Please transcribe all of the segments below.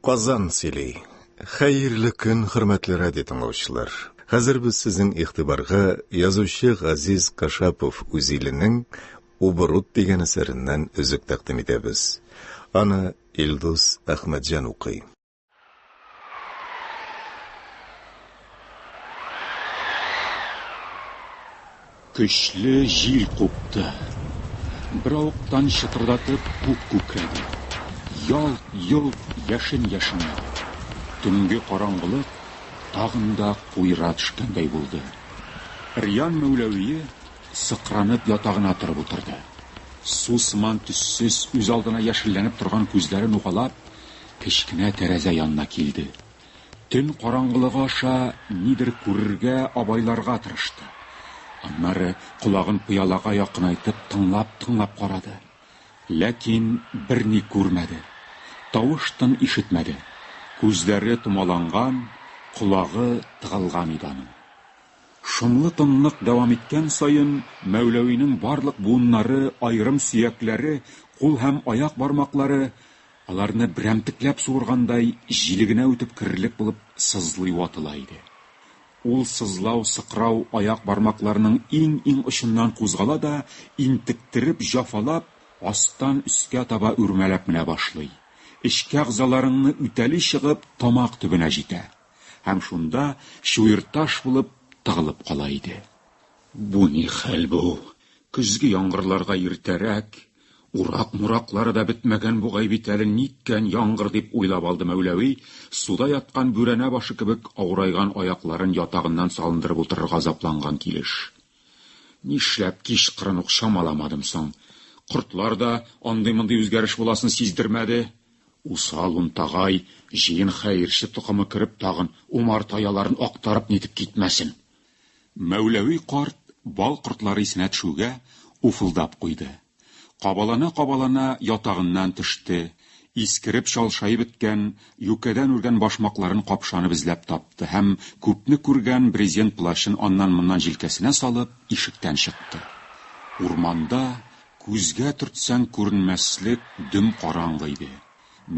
Казан сөйли. Хәерле көн, хөрмәтле радио тыңлаучылар. Хәзер без сезнең игътибарга язучы Газиз Кашапов үзиленең Убрут дигән әсәреннән өзек тәкъдим итәбез. Аны Илдус Әхмәтҗан укый. Көчле җил купты. Беравыктан чытырдатып күк күкрәде. Ялт-йолт яшен яшенләде. Төнге караңгылык тагын да куера төшкәндәй булды. Риан Мәүләвие сыкранып ятагына торып утырды. Су сыман төссез, үзалдына яшелләнеп торган күзләрен угалап, кечкенә тәрәзә янына килде. Төн караңгылыгы аша нидер күрергә, абайларга тырышты. Аннары колагын пыялага якынайтып тыңлап-тыңлап карады. Ләкин берни күрмәде. Тавыш-тын ишетмәде. Күзләре томаланган, колагы тыгылган иде аның. Шомлы тынлык дәвам иткән саен Мәүләвинең барлык буыннары, аерым сөякләре, кул һәм аяк бармаклары Аларны берәмтекләп суыргандай, җиле генә үтеп керерлек булып сызлый ватыла иде. Ул сызлау, сыкрау аяк бармакларының иң-иң очыннан кузгала да, интектереп, җафалап, астан өскә таба үрмәләп менә башлый, эчке әгъзаларыңны үтәли чыгып, тамак төбенә җитә. Һәм шунда чуерташ булып тыгылып кала иде. Бу ни хәл бу? Көзге яңгырларга иртәрәк, Урак-мораклары да бетмәгән бугай бит әле ниткән яңгыр, дип уйлап алды Мәүләви, суда яткан бүрәнә башы кебек авырайган аякларын ятагыннан салындырып утырырга азапланган килеш. Нишләп кичкырын ук чамаламадым соң? Кортлар да андый-мондый үзгәреш буласын сиздермәде. Усал унтагай, җыен хәерче токымы кереп тагын, умарта яларын актарып-нитеп китмәсен. Мәүләви карт бал кортлары исенә төшүгә, уфылдап куйды. Кабалана-кабалана ятагыннан төште, искереп чалшаеп беткән, юкәдән үргән башмакларын капшанып эзләп тапты һәм, күпне күргән брезент плащын аннан-моннан җилкәсенә салып, ишектән чыкты. Урманда күзгә төртсәң күренмәслек дөм караңгы иде.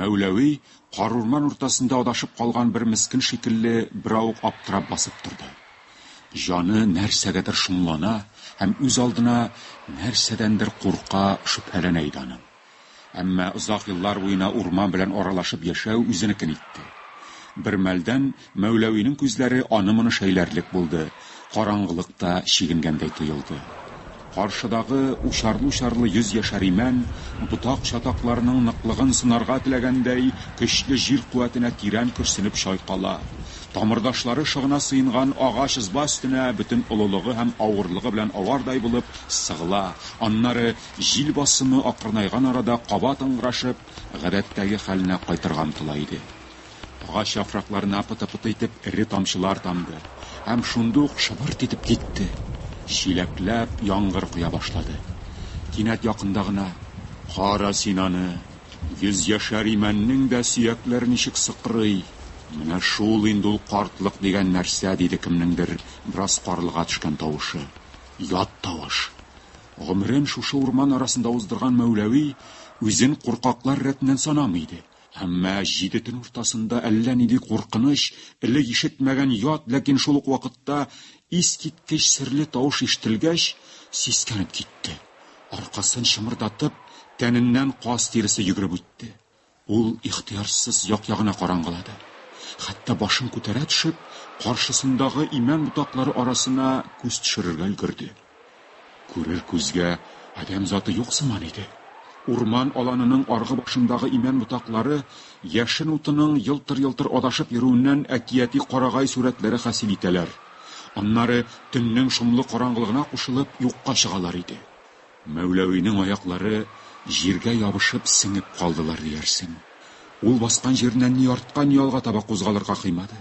Мәүләви, карурман уртасында адашып калган бер мескен шикелле, беравык аптырап басып торды. Җаны нәрсәгәдер шомлана һәм үз алдына нәрсәдәндер курка, шөбһәләнә иде аның. Әмма озак еллар буена урман белән аралашып яшәү үзенекен итте. Бермәлдән Мәүләвинең күзләре аны-моны шәйләрлек булды, караңгылык та чигенгәндәй тоелды. Каршыдагы учарлы-учарлы йөз яшәр имән, ботак чатакларының ныклыгын сынарга теләгәндәй, көчле җир куәтенә тирән көрсенеп чайкала, тамырдашлары шыгына сыенган агач ызба өстенә бөтен олылыгы һәм авырлыгы белән авардай булып сыгыла, аннары, җил басымы акрынайган арада кабат ыңгырашып, гадәттәге хәленә кайтырга омтыла иде. Агач яфракларына пыты-пыты итеп эре тамчылар тамды һәм шундый ук шыбырт итеп китте. Чиләкләп яңгыр коя башлады. Кинәт якында гына, Кара син аны! Йөзьяшәр имәннең дә сөякләре ничек сыкрый! Менә шул инде ул картлык дигән нәрсә, диде кемнеңдер бераз карлыга төшкән тавышы. Ят тавыш. Гомерен шушы урман арасында уздырган Мәүләви үзен куркаклар рәтеннән санамый иде. Әмма җиде төн уртасында әллә нинди куркыныч, элек ишетмәгән ят, ләкин шул ук вакытта искиткеч серле тавыш ишетелгәч, сискәнеп китте. Аркасын чымырдатып, тәненнән каз тиресе йөгереп үтте. Ул ихтыярсыз як-ягына караңгылады. Хәтта башын күтәрә төшеп, каршысындагы имән ботаклары арасына күз төшерергә өлгерде. Күрер күзгә адәм заты юк сыман иде. Урман аланының аргы башындагы имән ботаклары яшен утының елтыр-елтыр адашып йөрүеннән әкияти карагай сурәтләре хасил итәләр. Аннары төннең шомлы караңгылыгына кушылып юкка чыгалар иде. Мәүләвинең аяклары җиргә ябышып сеңеп калдылар диярсең. Ул баскан җиреннән ни артка, ни алга таба кузгалырга кыймады.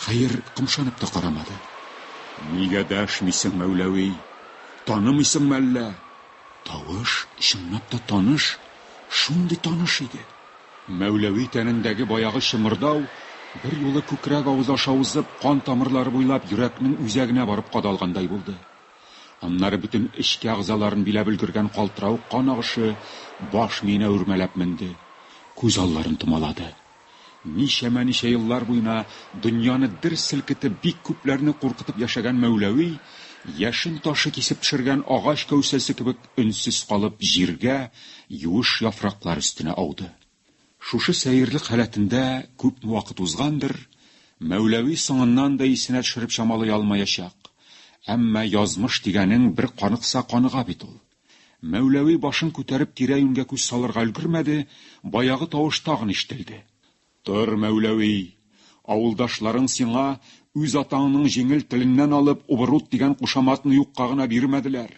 Хәер, кымшанып та карамады. Нигә дәшмисең, Мәүләви? Танымыйсыңмы әллә? Тавыш, чынлап та, таныш. Шундый таныш иде. Мәүләви тәнендәге баягы чымырдау берьюлы күкрәк авыз аша узып, кан тамырлары буйлап йөрәкнең үзәгенә барып кадалгандай булды. Аннары бөтен эчке әгъзаларын биләп өлгергән калтыравык кан агышы баш миенә үрмәләп менде, күз алларын томалады. Ничәмә-ничә еллар буена дөньяны дер селкетеп, бик күпләрне куркытып яшәгән Мәүләви, яшен ташы кисеп төшергән агач кәүсәсе кебек өнсез калып, җиргә, юеш яфраклар өстенә ауды. Шушы сәерлек халәтендә күпме вакыт узгандыр, Мәүләви соңыннан да исенә төшереп чамалый алмаячак, әмма язмыш дигәнең бер каныкса, каныга бит ул. Мәүләви башын күтәреп тирә-юньгә күз салырга өлгермәде, баягы тавыш тагын ишетелде. Тор, Мәүләви! Авылдашларың сиңа, үз атаңның җиңел теленнән алып, Убырут дигән кушаматны юкка гына бирмәделәр.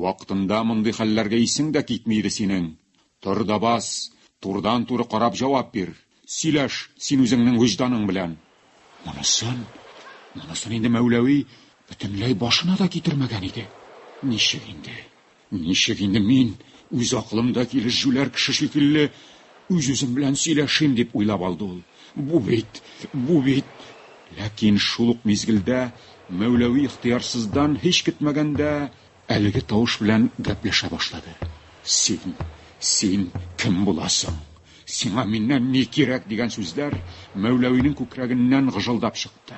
Вакытында мондый хәлләргә исең дә китми иде синең. Тор да бас, турыдан-туры карап җавап бир. Сөйләш син үзеңнең вөҗданың белән. Монысын, монысын инде Мәүләви бөтенләй башына да китермәгән иде. Ничек инде, ничек инде мин, үз акылымда килеш җүләр кеше шикелле, үз-үзем белән сөйләшим, дип уйлап алды ул. Бу бит, бу бит. Ләкин шул ук мизгелдә Мәүләви ихтыярсыздан, һич көтмәгәндә, Әлеге тавыш белән гәпләшә башлады. Син, син кем буласың? Сиңа миннән ни кирәк? дигән сүзләр Мәүләвинең күкрәгеннән гыжылдап чыкты.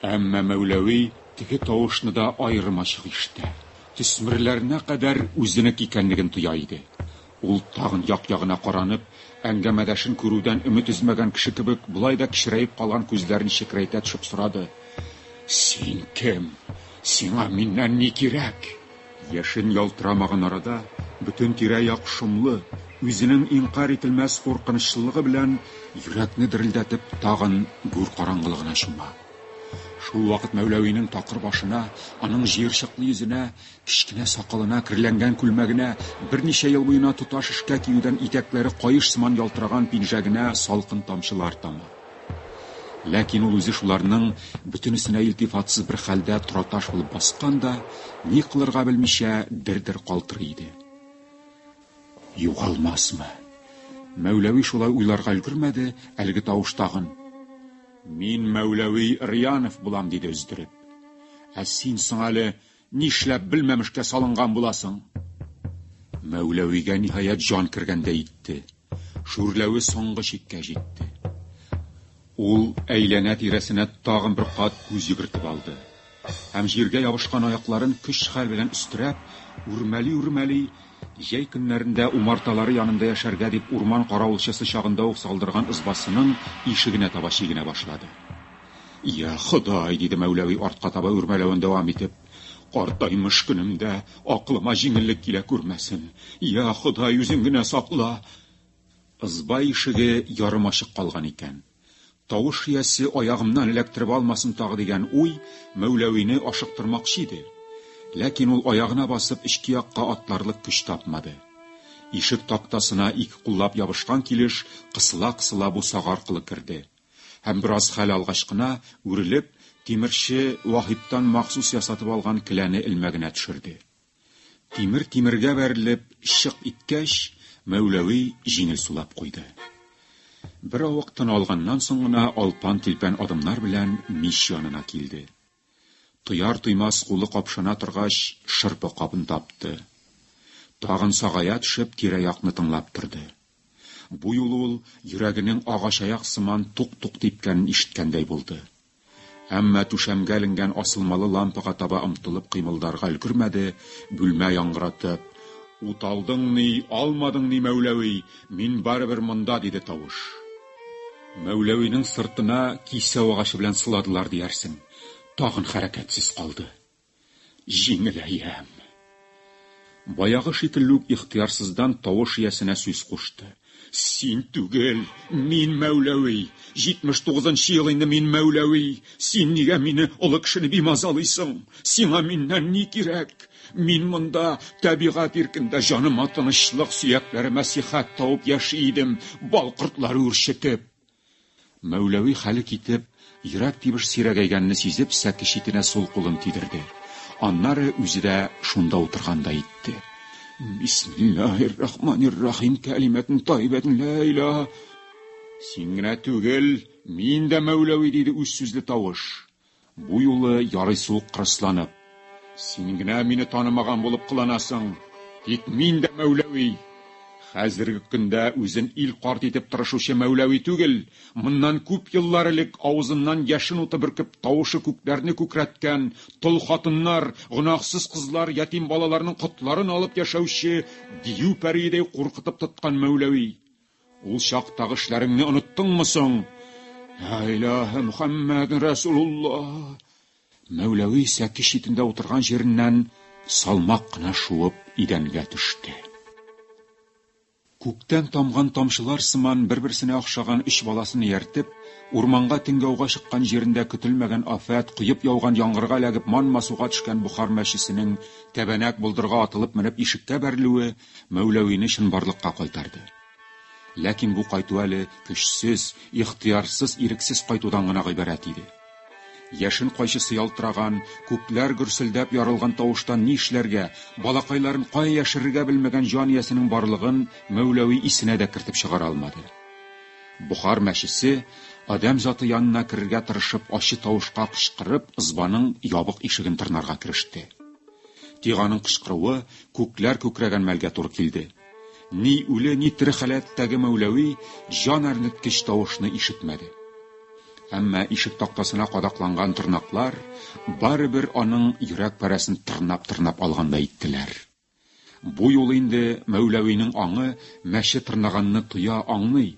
Әмма Мәүләви теге тавышны да аерым ачык ишетә, төсмерләренә кадәр үзенеке икәнлеген тоя иде. Ул, тагын як-ягына каранып, әңгәмәдәшен күрүдән өмет өзмәгән кеше кебек, болай да кечерәеп калган күзләрен чекрәйтә төшеп сорады, Син кем? Сиңа миннән ни кирәк? Яшен ялтырамаган арада, бөтен тирә-як шомлы, үзенең инкарь ителмәс куркынычлылыгы белән йөрәкне дерелдәтеп, тагын гүр караңгылыгына чума. Шул вакыт Мәүләвинең такыр башына, аның җыерчыклы йөзенә Кечкенә сакалына, керләнгән күлмәгенә, берничә ел буена тоташ эшкә киюдән итәкләре каеш сыман ялтыраган пинжәгенә салкын тамчылар тама. Ләкин ул үзе шуларның бөтенесенә илтифатсыз бер хәлдә тораташ булып баскан да, ни кылырга белмичә, дер-дер калтырый иде. Югалмасмы? Мәүләви шулай уйларга өлгермәде, әлеге тавыш тагын, Мин Мәүләви Рьянов булам, диде өздереп. Ә син соң әле Нишләп белмәмешкә салынган буласың? Мәүләвигә ниһаять җан кергәндәй итте. Шүрләве соңгы чиккә җитте. Ул әйләнә-тирәсенә тагын бер кат күз йөгертеп алды. Һәм җиргә ябышкан аякларын көч-хәл белән өстерәп, үрмәли-үрмәли, җәй көннәрендә умарталары янында яшәргә дип урман каравылчысы чагында ук салдырган ызбасының ишегенә таба чигенә башлады. Йа, Ходай, диде Мәүләви артка таба үрмәләвен дәвам итеп, картаймыш көнемдә акылыма җиңеллек килә күрмәсен. Йа, Ходай, үзең генә сакла. Ызба ишеге ярым ачык калган икән. Тавыш иясе аягымнан эләктереп алмасын тагы дигән уй Мәүләвине ашыктырмакчы иде. Ләкин ул аягына басып эчке якка атларлык көч тапмады. Ишек тактасына ике куллап ябышкан килеш кысыла-кысыла бусага аркылы керде. Һәм бераз хәл алгач кына, үрелеп, тимерче Ваһиптан махсус ясатып алган келәне элмәгенә төшерде. Тимер тимергә бәрелеп чык иткәч, Мәүләви җиңел сулап куйды. Беравык тын алганнан соң гына алпан-тилпән адымнар белән мич янына килде. Туяр-туймас кулы капшана торгач, шырпы кабын тапты. Тагын сагая төшеп, тирә-якны тыңлап торды. Бу юлы ул йөрәгенең агачаяк сыман тук-тук типкәнен ишеткәндәй булды. Әмма түшәмгә эленгән асылмалы лампага таба омтылып кыймылдарга өлгермәде, бүлмә яңгыратып, Ут алдыңмни, алмадыңмни, Мәүләви, мин барыбер монда, диде тавыш. Мәүләвинең сыртына кисәү агачы белән сыладылар диярсең. Тагын хәрәкәтсез калды. Җиңеләям. Баягы шикелле үк ихтыярсыздан тавыш иясенә сүз кушты. Син түгел, мин Мәүләви. 79 нчы ел инде мин Мәүләви. Син нигә мине, олы кешене бимазалыйсың? Сиңа миннән ни кирәк? Мин монда табигать иркендә җаныма тынычлык, сөякләремә сихәт табып яши идем, бал кортлары үрчетеп. Мәүләви хәле китеп, йөрәк тибеш сирәгәйгәнне сизеп, сәке читенә сул кулын тидерде. Аннары үзе дә шунда утыргандай итте. Бисмиллаһир-рахманир-рахим кәлимәтен тайбәтен лә иля. Син генә түгел, мин дә Мәүләви, диде үз сүзле тавыш. Бу юлы ярыйсы ук кырысланып. Син генә мине танымаган булып кыланасың. Тик мин дә Мәүләви. Хәзерге көндә үзен ил карт итеп тырышучы Мәүләви түгел, моннан күп еллар элек авызыннан яшен уты бөркеп тавышы күкләрне күкрәткән, тол хатыннар, гөнаһсыз кызлар, ятим балаларның котларын алып яшәүче дию пәриедәй куркытып тоткан Мәүләви. Ул чактагы эшләреңне оныттыңмы соң? Ла илаһә Мөхәммәд Расулулла! Мәүләви сәки читендә утырган җиреннән салмак кына шуып идәнгә төште. Күктән тамган тамчылар сыман бер-берсенә охшаган өч баласын ияртеп, урманга тиңгәүгә чыккан җирендә көтелмәгән афәт, коеп яуган яңгырга эләгеп манма суга төшкән Бохар мәчесенең тәбәнәк болдырга атылып менеп ишеккә бәрелүе, Мәүләвине чынбарлыкка кайтарды. Ләкин бу кайту әле көчсез, ихтыярсыз, ирексез кайтудан гына гыйбарәт иде. Яшен кайчысы ялтыраган, күкләр гөрселдәп ярылган тавыштан ни эшләргә, балакайларын кая яшерергә белмәгән җан иясенең барлыгын Мәүләви исенә дә кертеп чыгара алмады. Бохар мәчесе, адәм заты янына керергә тырышып, ачы тавышка кычкырып, ызбаның ябык ишеген тырнарга кереште. Тик аның кычкыруы күкләр күкрәгән мәлгә туры килде. Ни үле, ни тере халәттәге Мәүләви җан әрнеткеч тавышны ишетмәде. Әмма ишек тактасына кадакланган тырнаклар барыбер аның йөрәк парәсен тырнап-тырнап алгандай иттеләр. Бу юлы инде Мәүләвинең аңы мәче тырнаганны тоя, аңлый.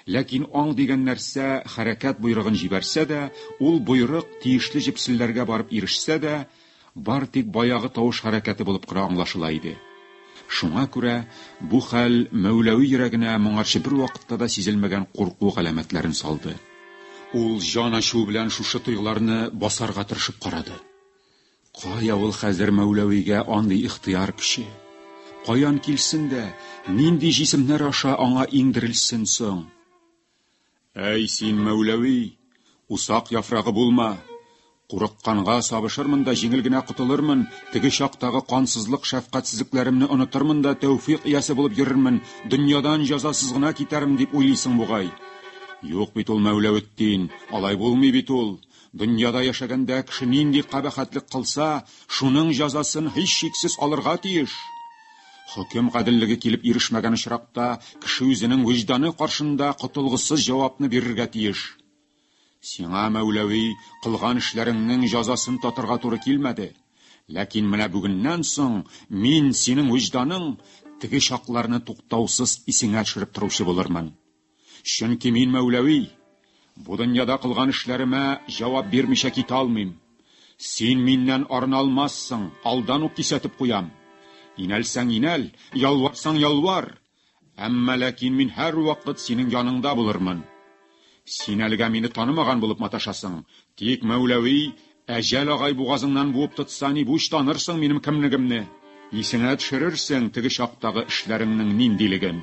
Ләкин аң дигән нәрсә хәрәкәт боерыгын җибәрсә дә, ул боерык тиешле җепселләргә барып ирешсә дә, Бары тик баягы тавыш хәрәкәте булып кына аңлашыла иде. Шуңа күрә бу хәл Мәүләви йөрәгенә моңарчы бервакытта да сизелмәгән курку галәмәтләрен салды. Ул җан ачуы белән шушы тойгыларны басарга тырышып карады. Кая ул хәзер Мәүләвигә андый ихтыяр көче? Каян килсен дә, нинди җисемнәр аша аңа иңдерелсен соң? Әй, син, Мәүләви, усак яфрагы булма! Курыкканга сабышырмын да җиңел генә котылырмын, теге чактагы кансызлык шәфкатьсезлекләремне онытырмын да тәүфик иясе булып йөрермен, дөньядан җәзасыз гына китәрмен дип уйлыйсың бугай. Юк бит ул, Мәүләветдин, алай булмый бит ул. Дөньяда яшәгәндә кеше нинди кабахәтлек кылса, шуның җәзасын һичшиксез алырга тиеш. Хөкем гаделлеге килеп ирешмәгән очракта, кеше үзенең вөҗданы каршында котылгысыз җавапны бирергә тиеш. Сиңа, Мәүләви, кылган эшләреңнең җазасын татырга туры килмәде. Ләкин менә бүгеннән соң мин синең вөҗданың теге чакларны туктаусыз исеңә төшереп торучы булырмын. Чөнки мин Мәүләви, бу дөньяда кылган эшләремә җавап бирмичә китә алмыйм. Син миннән арына алмассың, алдан ук кисәтеп куям. Инәлсәң инәл, ялварсаң ялвар, әмма ләкин мин һәрвакыт синең яныңда булырмын. Син әлегә мине танымаган булып маташасың, тик Мәүләви Ә Җәл агай бугазыңнан буып тотса, ни буш танырсың минем кемнегемне. Исеңә төшерерсең теге чактагы эшләреңнең ниндилеген.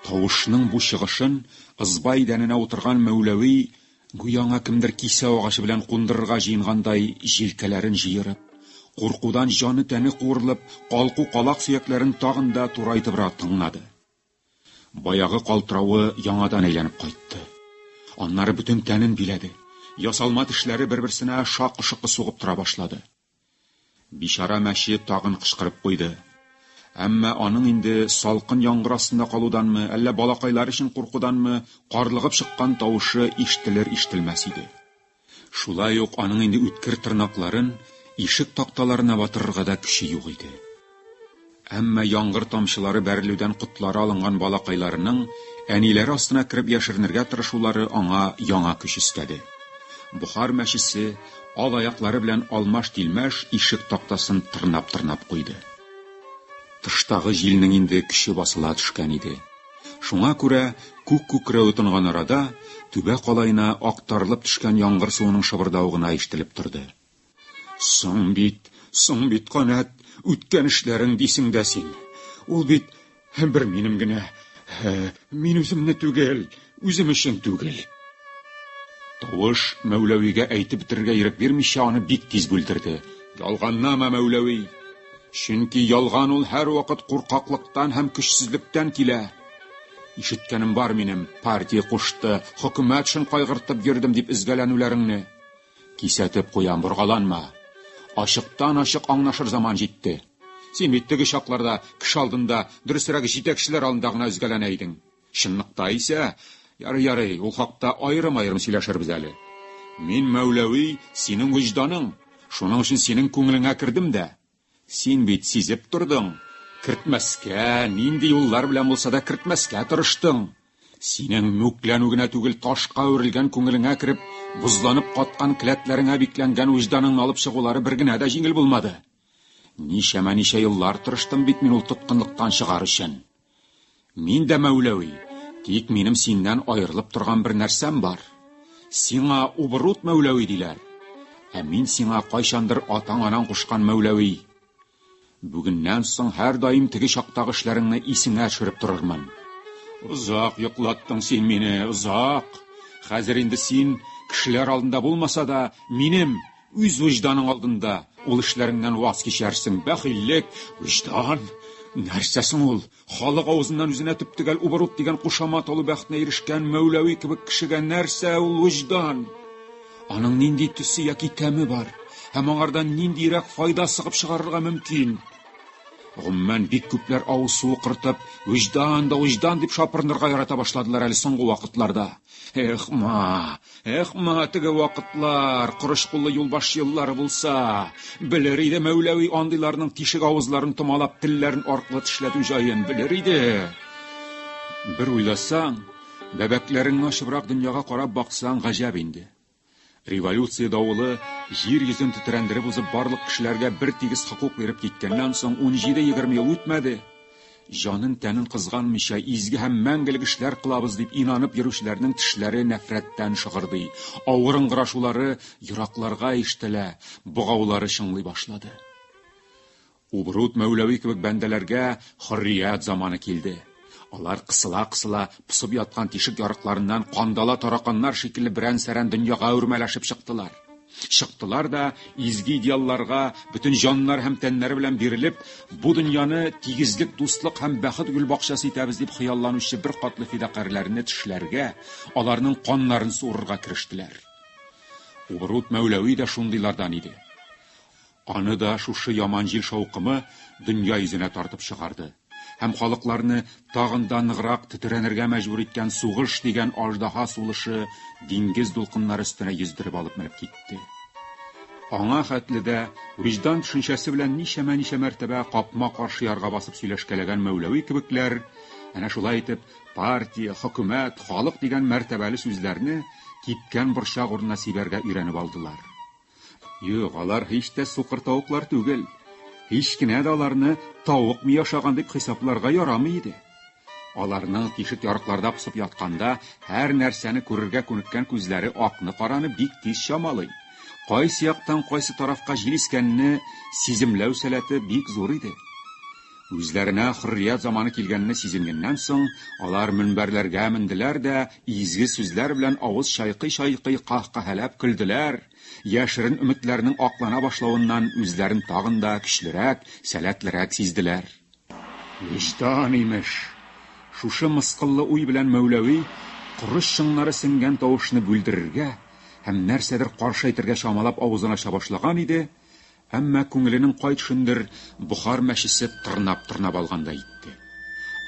Тавышның бу чыгышын ызба идәненә утырган Мәүләви, гүя аңа кемдер кисәү агачы белән кундырырга җыенгандай, җилкәләрен җыерып, куркудан җаны-тәне куырылып, калку-калак сөякләрен тагын да турайтыбрак тыңлады. Баягы калтыравы яңадан әйләнеп кайтты. Аннары бөтен тәнен биләде. Ясалма тешләре бер-берсенә шакы-шокы сугып тора башлады. Бичара мәче тагын кычкырып куйды. Әмма аның инде салкын яңгыр астында калуданмы, әллә балакайлар өчен куркуданмы, карлыгып чыккан тавышы ишетелер-ишетелмәс иде. Шулай ук аның инде үткер тырнакларын ишек такталарына батырырга да көче юк иде. Әмма яңгыр тамчылары бәрелүдән котлары алынган балакайларының әниләре астына кереп яшеренергә тырышулары аңа яңа көч өстәде. Бохар мәчесе ал аяклары белән алмаш-тилмәш ишек тактасын тырнап-тырнап куйды. Тыштагы җилнең инде көче басыла төшкән иде. Шуңа күрә күк күкрәве тонган арада, түбә калаена актарылып төшкән яңгыр суының шыбырдавы гына ишетелеп торды. Соң бит, соң бит, канәт, үткән эшләрең дисең дә син. Ул бит бер минем генә. Мин үземне түгел, үзем өчен түгел. Тавыш Мәүләвигә әйтеп бетерергә ирек бирмичә, аны бик тиз бүлдерде. Ялганлама, Мәүләви! Чөнки ялган ул һәрвакыт куркаклыктан һәм көчсезлектән килә. Ишеткәнем бар минем, партия кушты, хөкүмәт өчен кайгыртып йөрдем дип өзгәләнүләреңне. Кисәтеп куям, боргаланма. Ачыктан-ачык аңнашыр заман җитте. Син бит теге чакларда кеше алдында, дөресрәге, җитәкчеләр алдында гына өзгәләнә идең. Чынлыкта исә, ярый, ярый, ул хакта аерым-аерым сөйләшербез әле. Мин, Мәүләви, синең вөҗданың, шуның өчен синең күңелеңә кердем дә. Син бит сизеп тордың, кертмәскә, нинди юллар белән булса да кертмәскә тырыштың. Синең мүкләнү генә түгел, ташка әверелгән күңелеңә кереп, бозланып каткан келәтләреңә бикләнгән вөҗданыңны алып чыгулары бер генә дә җиңел булмады. Ничәмә-ничә еллар тырыштым бит мин ул тоткынлыктан чыгар өчен. Мин дә Мәүләви, тик минем синнән аерылып торган бер нәрсәм бар. Сиңа Убырут Мәүләви диләр. Ә мин сиңа кайчандыр атаң-анаң кушкан Мәүләви. Бүгеннән соң һәрдаим теге чактагы эшләреңне исеңә төшереп торырмын. Озак йоклаттың син мине, озак. Хәзер инде син, кешеләр алдында булмаса да, минем, Үз вөҗданың алдында ул эшләреңнән ваз кичәрсең. Бәхиллек, вөҗдан, нәрсә соң ул? Халык авызыннан үзенә төптөгәл убырук дигән кушамат алу бәхетенә ирешкән Мәүләви кебек кешегә нәрсә ул вөҗдан? Аның нинди төсе яки тәме бар? Һәм аңардан ниндиерәк файда сыгып чыгарырга мөмкин? Гомумән, бик күпләр авыз суы кыртып, вөҗдан да вөҗдан дип шапырынырга ярата башладылар әле соңгы вакытларда. Эх, ма, эх, ма, теге вакытлар, корыч куллы юлбаш еллары булса, белер иде Мәүләви андыйларның тишек авызларын томалап, телләрен аркылы тешләтү җаен белер иде. Бер уйласаң, бәбәкләреңне ачыбрак дөньяга карап баксаң, гаҗәп инде. Революция давылы җир йөзен тетрәндереп узып барлык кешеләргә бер тигез хокук биреп киткәннән соң 17-20 ел үтмәде. Җанын тәнен кызганмыйча изге һәм мәңгелек эшләр кылабыз дип инанып йөрүчеләрнең тешләре нәфрәттән шыгырдый, авыр ыңгырашулары еракларга ишетелә, богаулары чыңлый башлады. Убрут Мәүләви кебек бәндәләргә хөррият заманы килде. Алар кысыла-кысыла посып яткан тишек ярыкларыннан кандала тараканнар шикелле берән-сәрән дөньяга үрмәләшеп чыктылар. Чыктылар да, изге идеалларга бөтен җаннары һәм тәннәре белән бирелеп, бу дөньяны тигезлек, дуслык һәм бәхет гөлбакчасы итәбез дип хыялланучы беркатлы фидакарьләрне тешләргә, аларның каннарын суырырга керештеләр. Убрут Мәүләви дә шундыйлардан иде. Аны да шушы яман җил шаукымы дөнья йөзенә тартып чыгарды һәм халыкларны тагын да ныграк тетрәнергә мәҗбүр иткән сугыш дигән аждаһа сулышы диңгез дулкыннары өстенә йөздереп алып менеп китте. Аңа хәтле дә вөҗдан төшенчәсе белән ничәмә-ничә мәртәбә капма-каршы ярга басып сөйләшкәләгән Мәүләви кебекләр, әнә шулай итеп, партия, хөкүмәт, халык дигән мәртәбәле сүзләрне кипкән борчак урынына сибәргә өйрәнеп алдылар. Юк, алар һич тә сукыр тавыклар түгел. Һич кенә дә аларны тавык ми ашаган дип хисапларга ярамый иде. Аларның тишек ярыкларда посып ятканда һәр нәрсәне күрергә күнеккән күзләре акны-караны бик тиз чамалый. Кайсы яктан кайсы тарафка җил искәнне сиземләү сәләте бик зур иде. Үзләренә хөррият заманы килгәнне сизенгәннән соң, алар мөнбәрләргә менделәр дә изге сүзләр белән авыз чайкый-чайкый каһкаһәләп көлделәр, яшерен өметләрнең аклана башлавыннан үзләрен тагын да көчлерәк, сәләтлерәк сизделәр. Вөҗдан, имеш! Шушы мыскыллы уй белән Мәүләви коры чыңнары сеңгән тавышны бүлдерергә һәм нәрсәдер каршы әйтергә чамалап авызын ача башлаган иде, Әмма күңеленең кай төшендер Бохар мәчесе тырнап-тырнап алгандай итте.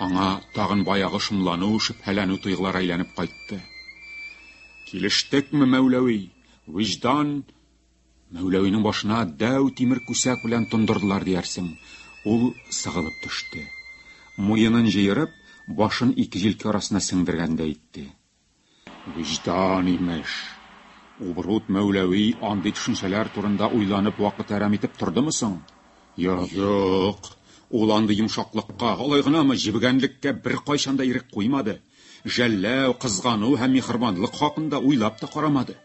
Аңа тагын баягы шомлану, шөбһәләнү тойгылары әйләнеп кайтты. Килештекме, Мәүләви? Виҗдан Мәүләвинең башына дәү тимер күсәк белән тондырдылар диярсең. Ул сыгылып төште. Муенын җыерып, башын ике җилкә арасына сеңдергәндәй итте. Вөҗдан, имеш. Убрут Мәүләви андый төшенчәләр турында уйланып вакыт әрәм итеп тордымы соң? Йо-юк! Ул андый йомшаклыкка, алай гынамы, җебегәнлеккә беркайчан да ирек куймады, жәлләү, кызгану һәм миһербанлык хакында уйлап та карамады.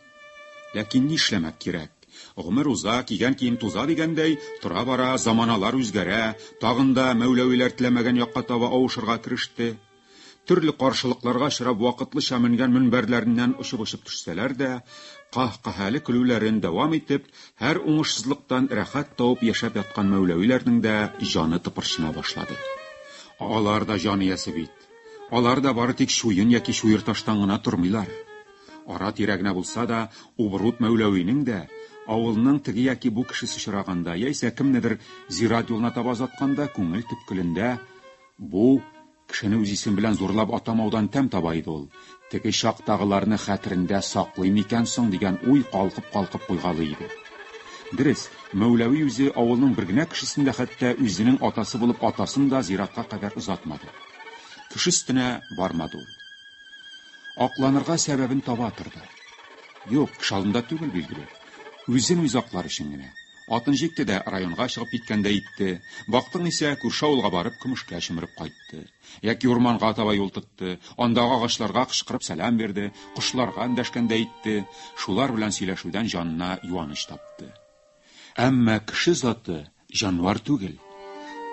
Ләкин нишләмәк кирәк, гомер уза, кигән кием туза дигәндәй, тора-бара заманалар үзгәрә, тагын да Мәүләвиләр теләмәгән якка таба авышырга кереште. Төрле каршылыкларга очрап вакытлыча менгән мөнбәрләреннән очып-очып төшсәләр дә, каһ-каһәле көлүләрен дәвам итеп, һәр уңышсызлыктан рәхәт табып яшәп яткан Мәүләвиләрнең дә җаны тыпырчына башлады. Алар да җан иясе бит. Алар да бары тик чуен яки чуерташтан гына тормыйлар. Ара-тирә генә булса да, Убрут Мәүләвинең дә, авылның теге яки бу кешесе очраганда, яисә кемнедер зират юлына таба озатканда, күңел төпкелендә, Бу, кешене үз исеме белән зурлап атамаудан тәм таба иде ул. Теге чактагыларны хәтерендә саклый микән соң дигән уй калкып-калкып куйгалый иде. Дөрес, Мәүләви үзе авылның бер генә кешесен дә хәтта үзенең атасы булып атасын да зиратка кадәр озатмады. Кеше өстенә бармады ул. Акланырга сәбәбен таба торды. Юк, кеше алдында түгел, билгеле. Үзен-үзе аклар өчен генә. Атын җикте дә районга чыгып киткәндәй итте. Бактың исә, күрше авылга барып, көмешкә чөмереп кайтты. Яки урманга таба юл тотты, андагы агачларга кычкырып сәлам бирде, кошларга эндәшкәндәй итте, шулар белән сөйләшүдән җанына юаныч тапты. Әмма кеше заты җанвар түгел.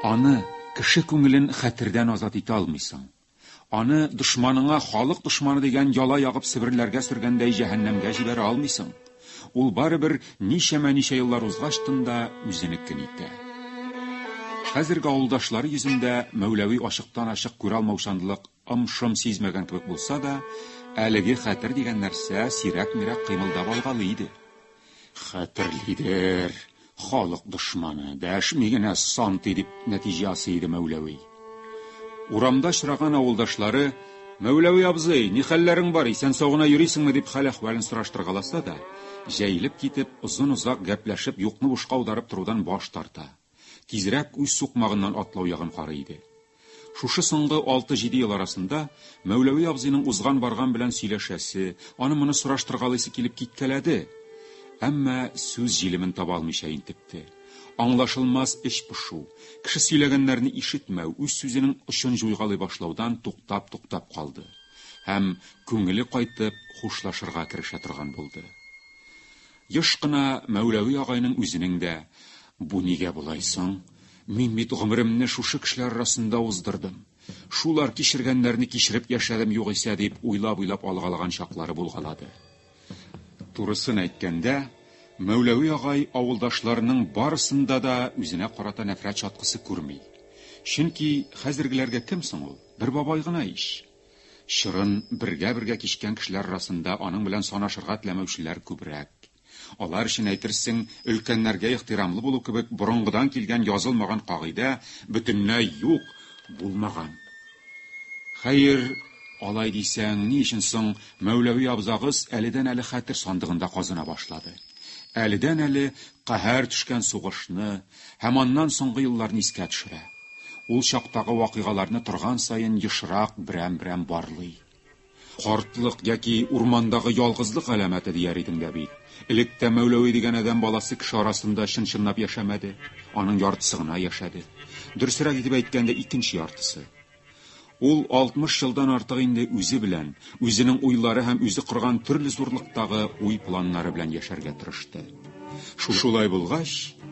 Аны, кеше күңелен хәтердән азат итә алмыйсың. Аны дошманыңа халык дошманы дигән яла ягып себерләргә сөргәндәй җәһәннәмгә җибәрә алмыйсың. Ул барыбер ничәмә ничә еллар узгач тында үзенекен итә. Хәзерге авылдашлары йөзендә Мәүләви ачыктан ачык күрә алмаучанлык ымшым сизмәгән кебек булса да, әлеге хәтер дигән нәрсә сирәк-мирәк кыймылдап алгалый иде. Хәтерлидер, халык дошманы, дәшми генә сан ти, дип нәтиҗә ясый иде Мәүләви. Урамда очраган авылдашлары, Мәүләви абзый, ни хәлләрең бар, исән-сау гына йөрисеңме, дип хәл-әхвәлен сораштыргаласа да, җәелеп китеп, озын-озак гәпләшеп, юкны бушка аударып торудан баш тарта. тизрәк үз сукмагыннан атлау ягын карый иде. Шушы соңгы алты-җиде ел арасында Мәүләви абзыйның узган-барган белән сөйләшәсе, аны-моны сораштыргалыйсы килеп киткәләде, әмма сүз җилемен таба алмыйча интекте. Аңлашылмас эч пошу, кеше сөйләгәннәрне ишетмәү, үз сүзенең очын җуйгалый башлаудан туктап-туктап калды һәм, күңеле кайтып, хушлашырга керешә торган булды. Еш кына Мәүләви агайның үзенең дә, Бу нигә болай соң? Мин бит гомеремне шушы кешеләр арасында уздырдым. Шулар кичергәннәрне кичереп яшәдем югыйсә, дип уйлап-уйлап алгалаган чаклары булгалады. Турысын әйткәндә, Мәүләви агай авылдашларының барысында да үзенә карата нәфрәт чаткысы күрми. Чөнки хәзергеләргә кем соң ул? Бер бабай гына ич! Чорын бергә-бергә кичкән кешеләр арасында аның белән санашырга теләмәүчеләр күбрәк. Алар өчен, әйтерсең, өлкәннәргә ихтирамлы булу кебек борынгыдан килгән язылмаган кагыйдә бөтенләй юк, булмаган. Хәер, алай дисәң, ни өчен соң Мәүләви абзагыз әледән-әле хәтер сандыгында казына башлады? Әледән-әле каһәр төшкән сугышны, һәм аннан соңгы елларны искә төшерә. Ул чактагы вакыйгаларны торган саен ешрак берәм-берәм барлый. Картлык яки урмандагы ялгызлык галәмәте дияр идең дә бит. Элек тә Мәүләви дигән адәм баласы кеше арасында чын-чынлап яшәмәде. Аның яртысы гына яшәде. Дөресрәк итеп әйткәндә, икенче яртысы. Ул 60 елдан артык инде үзе белән, үзенең уйлары һәм үзе корган төрле зурлыктагы уй-планнары белән яшәргә тырышты. Шушулай булгач,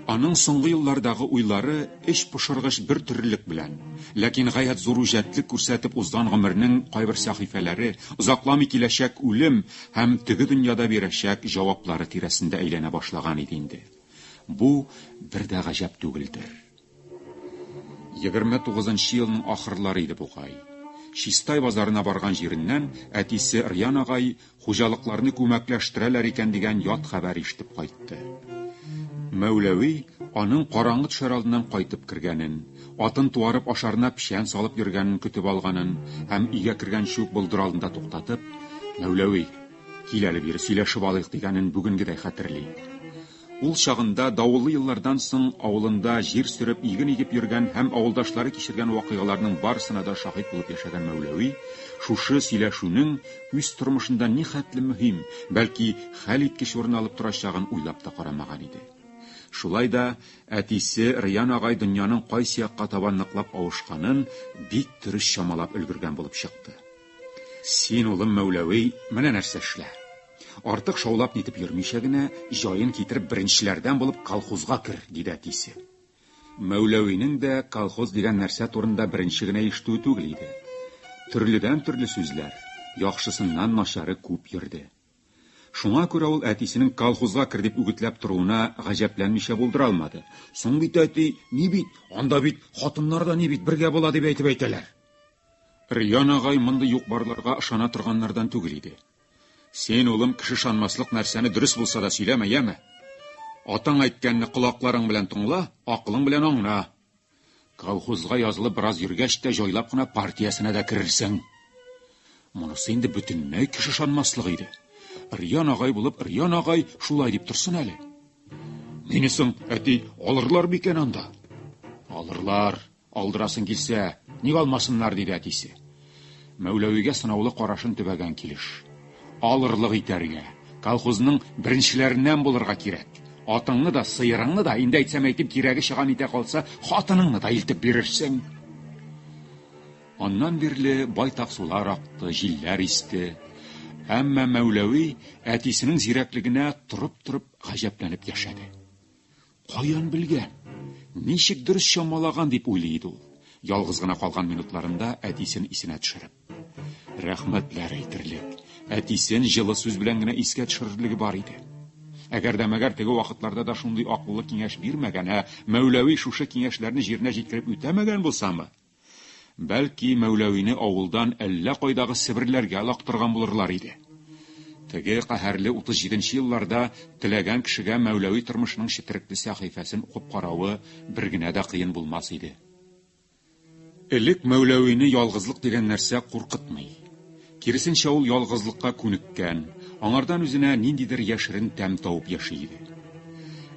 аның соңгы еллардагы уйлары эч пошыргыч бер төрлелек белән, ләкин гаять зур үҗәтлек күрсәтеп узган гомернең кайбер сәхифәләре, озакламый киләчәк үлем һәм теге дөньяда бирәчәк җаваплары тирәсендә әйләнә башлаган иде инде. Бу бер дә гаҗәп түгелдер. Егерме тугызынчы елның ахырлары иде бугай. Чистай базарына барган җиреннән әтисе Рьян агай хуҗалыкларны күмәкләштерәләр икән дигән ят хәбәр ишетеп кайтты. Мәүләви аның караңгы төшәр алдыннан кайтып кергәнен, атын туарып ашарына печән салып йөргәнен көтеп алганын һәм өйгә кергәнче үк болдыр алдында туктатып, Мәүләви, кил әле бире, сөйләшеп алыйк, дигәнен бүгенгедәй хәтерли. Ул чагында, давыллы еллардан соң, авылында җир сөреп, иген игеп йөргән һәм авылдашлары кичергән вакыйгаларның барысына да шаһит булып яшәгән Мәүләви шушы сөйләшүнең үз тормышында нихәтле мөһим, бәлки, хәлиткеч урын алып торачагын уйлап та карамаган иде. Шулай да әтисе Рыян агай дөньяның кайсы якка таба ныклап авышканын бик дөрес чамалап өлгергән булып чыкты. Син, улым Мәүләви, менә нәрсә эшлә. Артык шаулап-нитеп йөрмичә генә, җаен китереп, беренчеләрдән булып колхозга кер, диде әтисе. Мәүләвинең дә колхоз дигән нәрсә турында беренче генә ишетүе түгел иде. Төрледән-төрле сүзләр, яхшысыннан начары күп йөрде. Шуңа күрә ул әтисенең колхозга кер дип үгетләп торуына гаҗәпләнмичә булдыра алмады. Соң бит, әти, ни бит, анда бит хатыннар да ни бит, бергә була дип әйтеп әйтәләр. Риан агай мондый юк-барларга ышана торганнардан түгел иде. Син, улым, кеше шанмаслык нәрсәне дөрес булса да сөйләмә, яме. Атаң әйткәнне колакларың белән тыңла, акылың белән аңна. Колхозга язылып бераз йөргәч тә җайлап кына партиясенә дә керерсең. Монысы инде бөтенләй кеше шанмаслык иде. Риян агай булып, Риян агай шулай дип торсын әле. Мине соң, әти, алырлар бикән анда? Алырлар. Алдырасың килсә, ник алмасыннар, диде әтисе. Мәүләвигә сынаулы карашын төбәгән килеш. Алырлык итәргә, колхозның беренчеләреннән булырга кирәк. Атыңны да, сыерыңны да, инде әйтсәм әйтим, кирәге чыган итә калса, хатыныңны да илтеп бирерсең. Аннан бирле байтак сулар акты, җилләр исте. Әмма Мәүләви әтисенең зирәклегенә торып-торып гаҗәпләнеп яшәде. Каян белгән? Ничек дөрес чамалаган дип уйлый иде ул, ялгыз гына калган минутларында әтисен исенә төшереп. Рәхмәтләр әйтерлек, әтисен җылы сүз белән генә искә төшерерлеге бар иде. Әгәр дә мәгәр теге вакытларда да шундый акыллы киңәш бирмәгән, ә Мәүләви шушы киңәшләрне җиренә җиткереп үтәмәгән булсамы? Бәлки, Мәүләвине авылдан әллә кайдагы Себерләргә алактырган булырлар иде. Теге каһәрле 37 нче елларда теләгән кешегә Мәүләви тормышының четерекле сәхифәсен укып каравы бер генә дә кыен булмас иде. Элек Мәүләвине ялгызлык дигән нәрсә куркытмый. Киресенчә, ул ялгызлыкка күнеккән, аңардан үзенә ниндидер яшерен тәм табып яши иде.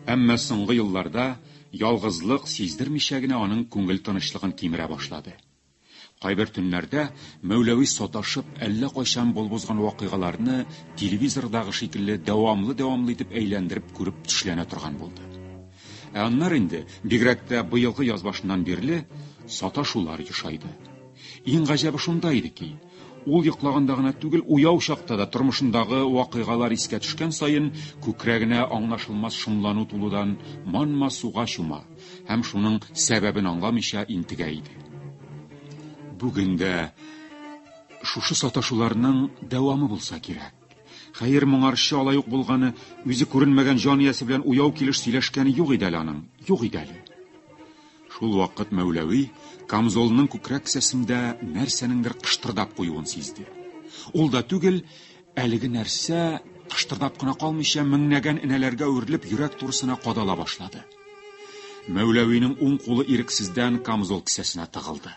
Әмма соңгы елларда ялгызлык сиздермичә генә аның күңел тынычлыгын кимерә башлады. Кайбер төннәрдә Мәүләви саташып, әллә кайчан булып узган вакыйгаларны телевизордагы шикелле дәвамлы-дәвамлы итеп әйләндереп күреп төшләнә торган булды. Ә аннары инде, бигрәк тә быелгы яз башыннан бирле, саташулар ешайды. Иң гаҗәбе шунда иде ки, ул йоклаганда гына түгел, уяу чакта да тормышындагы вакыйгалар искә төшкән саен, күкрәгенә аңлашылмас шомлану тулудан манма суга чума һәм шуның сәбәбен аңламыйча интегә иде. Бүген дә шушы саташуларның дәвамы булса кирәк. Хәер, моңарчы алай ук булганы, үзе күренмәгән җан иясе белән уяу килеш сөйләшкәне юк иде әле аның. Юк иде әле. Шул вакыт Мәүләви камзолының күкрәк кесәсендә нәрсәнеңдер кыштырдап куюын сизде. Ул да түгел, әлеге нәрсә кыштырдап кына калмыйча меңнәгән энәләргә үрелеп йөрәк турысына кадала башлады. Мәүләвинең уң кулы ирексездән камзол кесәсенә тыгылды.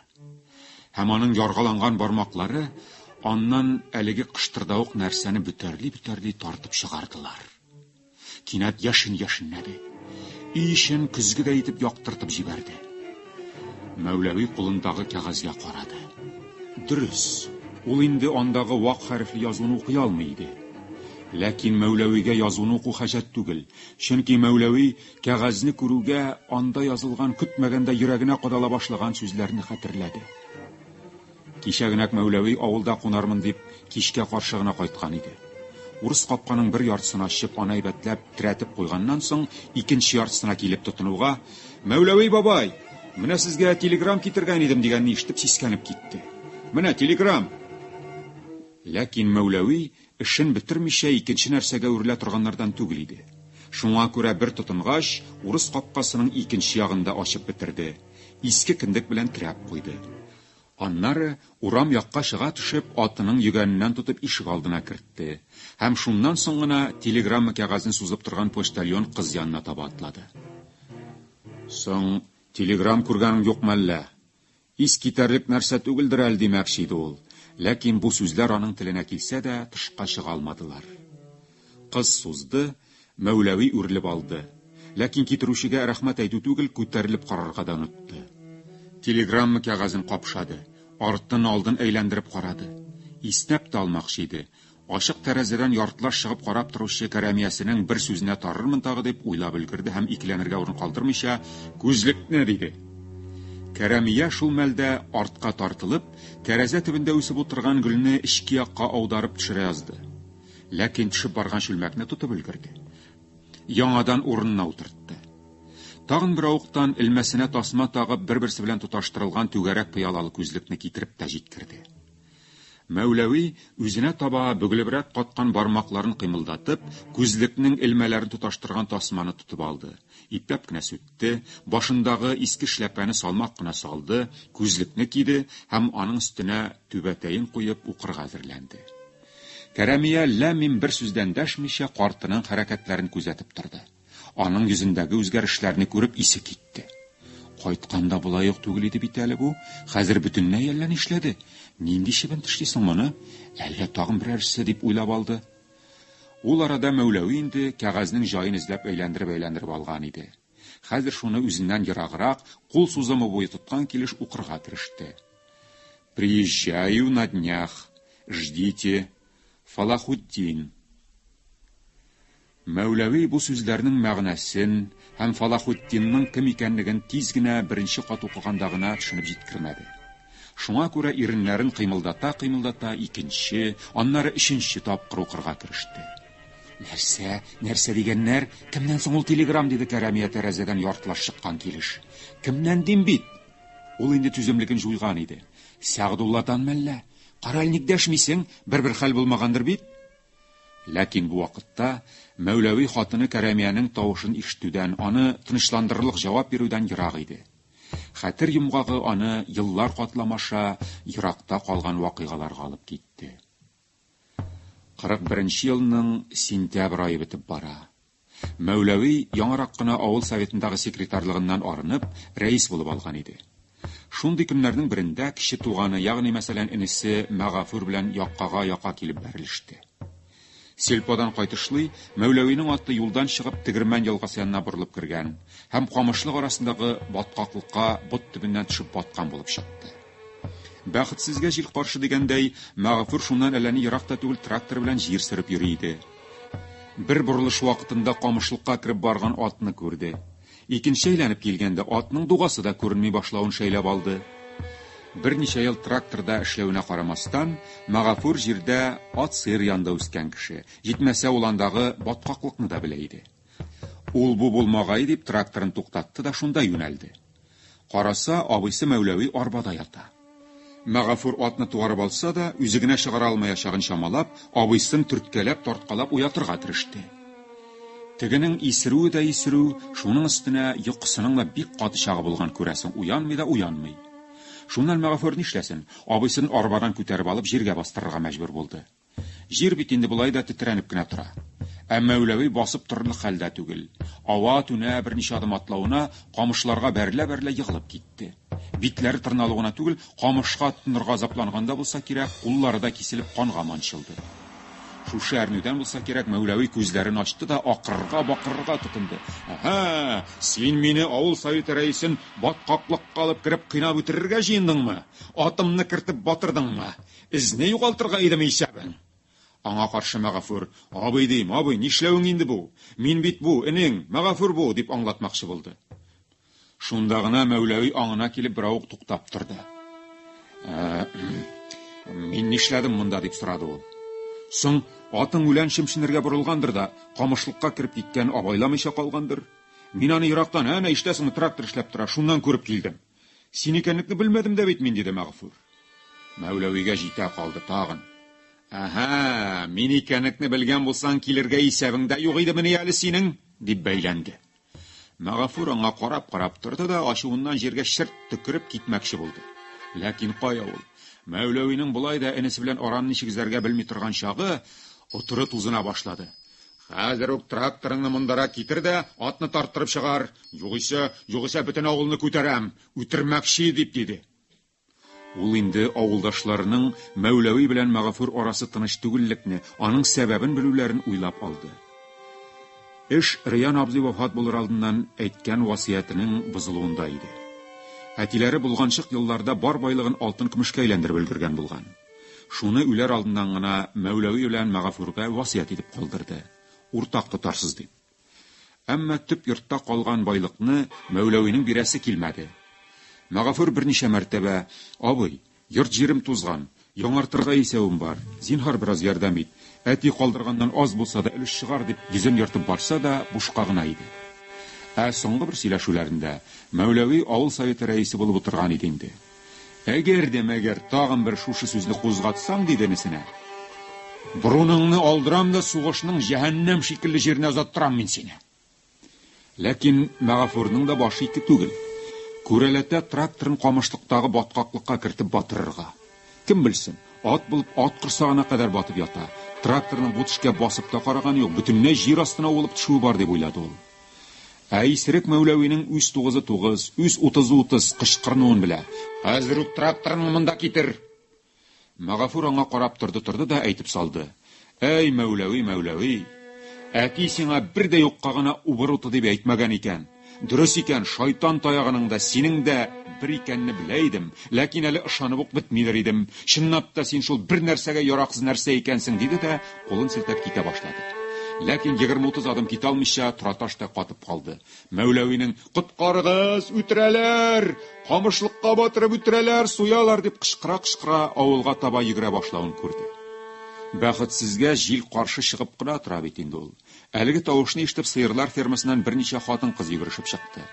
Һәм аның яргаланган бармаклары аннан әлеге кыштырдавык нәрсәне бөтәрли-бөтәрли тартып чыгардылар. Кинәт яшен яшеннәде. Өй эчен көзгедәй итеп яктыртып җибәрде. Мәүләви кулындагы кәгазьгә карады. Дөрес, ул инде андагы вак хәрефле язуны укый алмый иде. Ләкин Мәүләвигә язуны уку хаҗәт түгел, чөнки Мәүләви Кәгазьне күрүгә, анда язылган көтмәгәндә йөрәгенә кадала башлаган сүзләрне хәтерләде. Кичә генә Мәүләви авылда кунармын дип, кичкә каршы гына кайткан иде. Урыс капканың бер яртысын ачып, аны әйбәтләп терәтеп куйганнан соң, икенче яртысына килеп тотынуга, Мәүләви бабай, менә сезгә телеграм китергән идем, дигәнне ишетеп сискәнеп китте. Менә телеграм! Ләкин Мәүләви Эшен бетермичә икенче нәрсәгә үрелә торганнардан түгел иде. Шуңа күрә бер тотынгач, урыс капкасының икенче ягын да ачып бетерде, иске кендек белән терәп куйды. Аннары, урам якка чыга төшеп, атының йөгәненнән тотып ишегалдына кертте һәм шуннан соң гына телеграмма кәгазен сузып торган почтальон кыз янына таба атлады. Соң, телеграм күргәнең юкмы әллә? Ис китәрлек нәрсә түгелдер әле, димәкче иде ул, ләкин бу сүзләр аның теленә килсә дә, тышка чыга алмадылар. Кыз сузды, Мәүләви үрелеп алды, ләкин китерүчегә рәхмәт әйтү түгел, күтәрелеп карарга да онытты. Телеграмма кәгазен капшады, артын-алдын әйләндереп карады. Иснәп тә алмакчы иде, Ачык тәрәзәдән яртылаш чыгып карап торучы Кәрәмиясенең бер сүзенә тарырмын тагы дип уйлап өлгерде һәм икеләнергә урын калдырмыйча, Күзлекне! диде. Кәрәмия шул мәлдә, артка тартылып, тәрәзә төбендә үсеп утырган гөлне эчке якка аударып төшерә язды. Ләкин төшеп барган чүлмәкне тотып өлгерде. Яңадан урынына утыртты. Тагын бер авыктан элмәсенә тасма тагып, бер-берсе белән тоташтырылган түгәрәк пыялалы күзлекне китереп тә җиткерде. Мәүләви, үзенә таба бөгелебрәк каткан бармакларын кыймылдатып, күзлекнең элмәләрен тоташтырган тасманы тотып алды, ипләп кенә сүтте, башындагы иске эшләпәне салмак кына салды, күзлекне киде һәм аның өстенә түбәтәен куеп укырга әзерләнде. Кәрәмия ләм-мим бер сүз дәндәшмичә картының хәрәкәтләрен күзәтеп торды. Аның йөзендәге үзгәрешләрне күреп исе китте. Кайтканда болай ук түгел иде бит әле бу. Хәзер бөтенләй әллә нишләде. Нинди чебен тешли соң моны? Әллә тагын берәрсе дип уйлап алды. Ул арада Мәүләви инде кәгазьнең җаен эзләп әйләндереп-әйләндереп алган иде. Хәзер шуны үзеннән ераграк, кул сузымы буе тоткан килеш укырга кереште. Приезжаю на днях. Ждите. Фалахутдин. Мәүләви бу сүзләрнең мәгънәсен һәм Фалахутдинның кем икәнлеген тиз генә беренче кат укыганда гына төшенеп җиткермәде. Шуңа күрә иреннәрен кыймылдата-кыймылдата икенче, аннары өченче тапкыр укырга кереште. Нәрсә, нәрсә дигәннәр? Кемнән соң ул телеграм? диде Кәрәмия тәрәзәдән яртылаш чыккан килеш. Кемнән дим бит? Ул инде түземлеген җуйган иде. Сәгъдулладан мәллә? Караль, ник дәшмисең? Бер-бер хәл булмагандыр бит? Ләкин бу вакытта Мәүләви хатыны Кәрәмиянең тавышын ишетүдән, аны тынычландырырлык җавап бирүдән ерак иде. Хәтер йомгагы аны еллар катлам аша еракта калган вакыйгаларга алып китте. Кырык беренче елның сентябрь ае бетеп бара. Мәүләви яңарак кына авыл советындагы секретарьлыгыннан арынып, рәис булып алган иде. Шундый көннәрнең берендә кече туганы, ягъни мәсәлән энесе Мәгафур белән яккага-яка килеп бәрелеште. Сельподан кайтышлый, Мәүләвинең аты юлдан чыгып Тегермән елгасы янына борылып кергән һәм камышлык арасындагы баткаклыкка бот төбеннән төшеп баткан булып чыкты. Бәхетсезгә җил каршы дигәндәй, Мәгафур шуннан әллә ни ерак та түгел трактор белән җир сөреп йөри иде. Бер борылыш вакытында камышлыкка кереп барган атны күрде. Икенче әйләнеп килгәндә атның дугасы да күренми башлавын шәйләп алды. Берничә ел тракторда эшләвенә карамастан, Магафур җирдә ат-сыер янында үскән кеше. Җитмәсә, ул андагы баткаклыкны да белә иде. Ул-бу булмагае дип тракторын туктатты да шунда юнәлде. Караса, абыйсы Мәүләви арбада ята. Мәгафур атны туарып алса да, үзе генә чыгара алмаячагын чамалап, абыйсын төрткәләп, тарткалап уятырга тырышты. Тегенең исерүе дә исерү, шуның өстенә йокысының да бик каты чагы булган күрәсең, уянмый да уянмый. Шуннан Мәгафур нишләсен, абыйсын арбадан күтәреп алып җиргә бастырырга мәҗбүр булды. Җир бит инде болай да тетрәнеп кенә тора. Ә Мәүләви басып торырлык хәлдә түгел. Ава-түнә берничә адым атлавына, камышларга бәрелә-бәрелә егылып китте. Битләре тырналу гына түгел, камышка тотынырга азапланган да булса кирәк, куллары да киселеп канга манчылды. Шушы әрнүдән булса кирәк, Мәүләви күзләрен ачты да акырырга-бакырырга тотынды. Әһә, син мине авыл советы рәисен баткаклыкка алып кереп кыйнап үтерергә җыендыңмы? Атымны кертеп батырдыңмы? Эзне югалтырга идеме исәбең? Аңа каршы Мәгафур, Абый дим, абый, нишләвең инде бу? Мин бит бу, энең, Мәгафур бу, дип аңлатмакчы булды. Шунда гына Мәүләви аңына килеп берәү ук туктап торды. Мин нишләдем монда, дип сорады ул. Соң атың үлән чемченергә борылгандыр да, камышлыкка кереп киткән абайламыйча калгандыр. Мин аны ерактан, әнә иштәсеңме, трактор эшләп тора, шуннан күреп килдем. Син икәнлекне белмәдем дә бит мин, диде Мәгъфур. Мәүләвигә җитә калды тагын. Ага, мин икәнлекне белгән булсаң, килергә исәбең дә юк идемени әле синең, дип бәйләнде. Мәгъфур аңа карап-карап торды да, ачуыннан җиргә шырт төкереп китмәкче булды. Ләкин кая ул? Мәүләвинең болай да энесе белән араны ничек өзәргә белми торган чагы, отры тузына башлады. Хәзер үк тракторыңны мондара китер дә, атны тарттырып чыгар, югыйсә, югыйсә бөтен авылны күтәрәм, үтермәкче, дип диде. Ул инде авылдашларының Мәүләви белән Мәгафур арасы тыныч түгеллекне, аның сәбәбен белүләрен уйлап алды. Эш Рыян абзый вафат булыр алдыннан әйткән васыятенең бозылуында иде. Әтиләре болганчык елларда бар байлыгын алтын-көмешкә әйләндереп өлгергән булган. Шуны үләр алдыннан гына Мәүләви белән Мәгафурга васыять итеп калдырды, уртак тотарсыз дип. Әмма төп йортта калган байлыкны Мәүләвинең бирәсе килмәде. Мәгафур берничә мәртәбә, Абый, йорт-җирем тузган, яңартырга исәвем бар, зинһар бераз ярдәм ит, әти калдырганнан аз булса да өлеш чыгар, дип йөзен ертып барса да, бушка гына иде. Ә соңгы бер сөйләшүләрендә Мәүләви авыл советы рәисе булып утырган иде инде. Әгәр дә мәгәр тагын бер шушы сүзне кузгатсаң, диде энесенә, борыныңны алдырам да сугышның җәһәннәм шикелле җиренә озаттырам мин сине. Ләкин Мәгафурның да башы ике түгел. Күрәләтә тракторын камышлыктагы баткаклыкка кертеп батырырга. Кем белсен, ат булып ат корсагына кадәр батып ята. Тракторның бу төшкә басып та караганы юк, бөтенләй җир астына уылып төшүе бар, дип уйлады ул. Ә Исерек Мәүләвинең үз тугызы тугыз, үз утызы утыз кычкырынуын белә. Хәзер үк тракторыңны монда китер! Магафур аңа карап торды-торды да әйтеп салды. Әй, Мәүләви, Мәүләви! Әти сиңа бер дә юкка гына убыр уты дип әйтмәгән икән. Дөрес икән, шайтан таягының да, синең дә бер икәнне белә идем, ләкин әле ышанып ук бетмидер идем. Чынлап та син шул бер нәрсәгә яраксыз нәрсә икәнсең, диде дә, Кулын селтәп китә башлады. Ләкин егерме-утыз адым китә алмыйча, тораташ та катып калды. Мәүләвинең, Коткарыгыз, үтерәләр! Камышлыкка батырып үтерәләр, суялар! дип кычкыра-кычкыра авылга таба йөгерә башлавын күрде. Бәхетсезгә җил каршы чыгып кына тора бит инде ул. Әлеге тавышны ишетеп сыерлар фермасыннан берничә хатын-кыз йөгерешеп чыкты.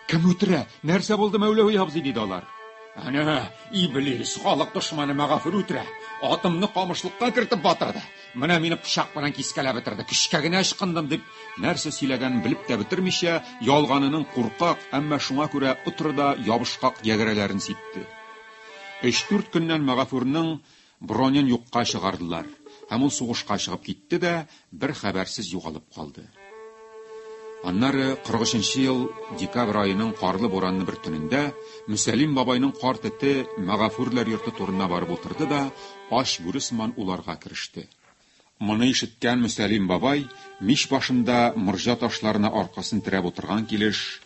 Кем үтерә? Нәрсә булды, Мәүләви абзый? диде алар. Әнә, иблис, халык дошманы Мәгафур үтерә. Атымны камышлыкка кертеп батырды. Менә мине пычак белән кискәләп бетерде. Көчкә генә ычкындым, дип, нәрсә сөйләгәнен белеп тә бетермичә, ялганының куркак, әмма шуңа күрә отры да ябышкак ягерәләрен сипте. Өч-дүрт көннән Мәгафурның Бронен юкка чыгардылар, һәм ул сугышка чыгып китте дә бер хәбәрсез югалып калды. Аннары 43 ел декабрь аеның карлы буранлы бер төнендә Мөсәлим бабайның карт эте Мәгафүрләр йорты турына барып утырды да ач бүре сыман уларга кереште. Моны ишеткән Мөсәлим бабай мич башында морҗа ташларына аркасын терәп утырган килеш,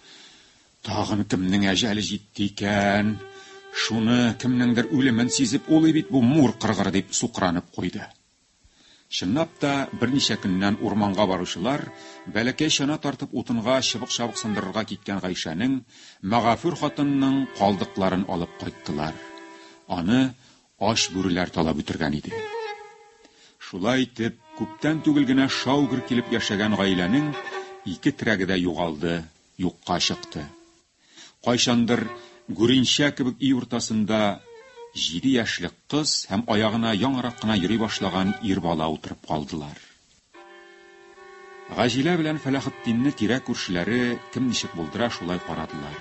Тагын кемнең әҗәле җитте икән? Шуны, кемнеңдер үлемен сизеп улый бит бу мур кыргыры, дип сукранып куйды. Чынлап та, берничә көннән урманга баручылар бәләкәй чана тартып утынга чыбык-чабык сындырырга киткән Гайшәнең, мәгафүр хатынының калдыкларын алып кайттылар. Аны ач бүреләр талап үтергән иде. Шулай итеп, күптән түгел генә шау-гөр килеп яшәгән гаиләнең ике терәге дә югалды, юкка чыкты. Кайчандыр гүренчә кебек өй уртасында җиде яшьлек кыз һәм аягына яңарак кына йөри башлаган ир бала утырып калдылар. Гаҗилә белән Фәләхетдинне тирә-күршеләре кем ничек булдыра, шулай карадылар.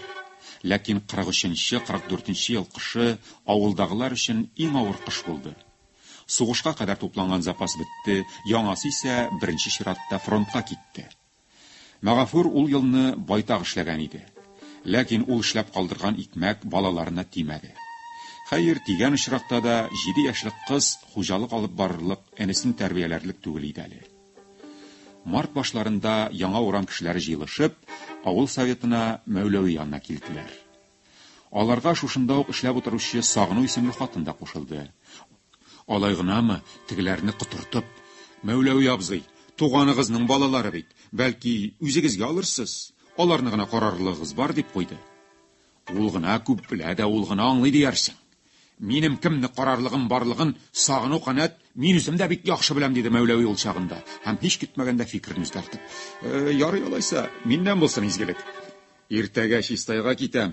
Ләкин 43 44 ел кышы авылдагылар өчен иң авыр кыш булды. Сугышка кадәр тупланган запас бетте, яңасы исә беренче чиратта фронтка китте. Мәгафур ул елны байтак эшләгән иде. Ләкин ул эшләп калдырган икмәк балаларына тимәде. Хәер, тигән очракта да, җиде яшьлек кыз хуҗалык алып барырлык, энесен тәрбияләрлек түгел иде әле. Март башларында яңа урам кешеләре җыелышып, авыл Советына Мәүләви янына килделәр. Аларга шушында ук эшләп утыручы Сагыну исемле хатын да кушылды. Алай гынамы, тегеләрне котыртып, Мәүләви абзый, туганыгызның балалары бит, бәлки, үзегезгә алырсыз, аларны гына карарлыгыгыз бар, дип куйды. Ул гына күп белә дә, ул гына аңлый диярсең. Минем кемне карарлыгым барлыгын сагыну канәт, мин үзем дә бик яхшы беләм, диде Мәүләви ул чагында, һәм һич китмәгәндә фикерен үзгәртеп. Э, ярый алайса, миннән булсын изгелек. Иртәгә чистайга китәм.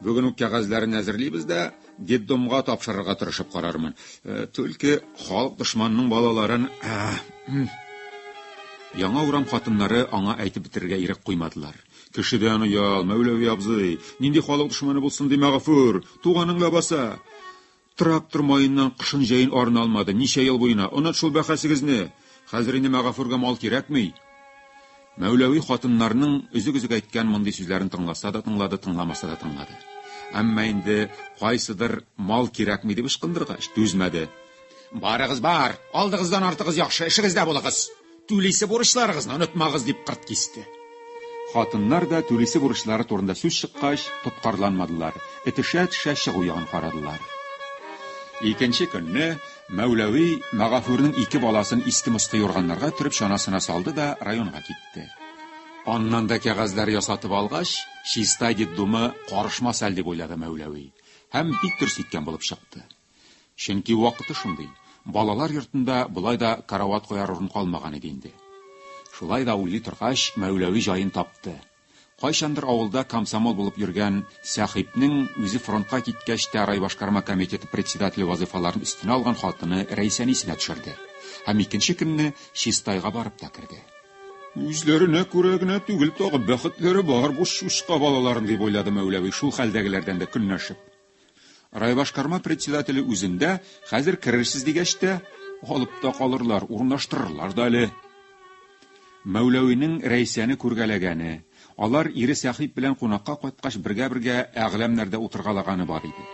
Бүген үк кәгазьләрен әзерлибез дә, детдомга тапшырырга тырышып карармын. Э, Түлке халык дошманының балаларын... Яңа урам хатыннары аңа әйтеп бетерергә ирек куймадылар. Кешедән оял, Мәүләви абзый. Нинди халык дошманы булсын ди Мәгафур? Туганың лабаса. Трактор маеннан кышын җәен арына алмады. Ничә ел буена. Онат шул бәхәсегезне. Хәзер инде Мәгафурга мал кирәкми. Мәүләви хатыннарның өзек-өзек әйткән мондый сүзләрен тыңласа да тыңлады, тыңламаса да тыңлады. Әмма инде кайсыдыр мал кирәкми дип ычкындыргач, түзмәде. Барыгыз бар, алдыгыздан артыгыз яхшы, эшегездә булыгыз. Түлисе бурычларыгызны онытмагыз, дип кырт кисте. Хатыннар да түлисе бурычлары турында сүз чыккач, тоткарланмадылар, этешә-этешә чыгу ягын карадылар. Икенче көнне Мәүләви Магафурның ике баласын иске-москы юрганнарга төреп чанасына салды да районга китте. Аннан да кәгазьләр ясатып алгач, Чистай детдомы карышмас әле дип уйлады Мәүләви һәм бик дөрес иткән булып чыкты. Чөнки вакыты шундый, балалар йортында болай да карават куяр урын калмаган иде инде. Шулай да уйлый торгач, Мәүләви җаен тапты. Кайчандыр авылда комсомол булып йөргән Сәхипнең үзе фронтка киткәч тә райбашкарма комитеты председателе вазыйфаларын өстенә алган хатыны Рәйсәне исенә төшерде һәм икенче көнне Чистайга барып та керде. Үзләренә күрә генә түгел, тагы бәхетләре бар бу чучка балаларын, дип уйлады Мәүләви, шул хәлдәгеләрдән дә көнләшеп. Райбашкарма председателе үзендә, хәзер керерсез дигәч тә, алып та калырлар, урнаштырырлар да әле. Мәүләвинең Рәйсәне күргәләгәне, алар ире Сәхип белән кунакка кайткач бергә-бергә әгъләмнәрдә утыргалаганы бар иде.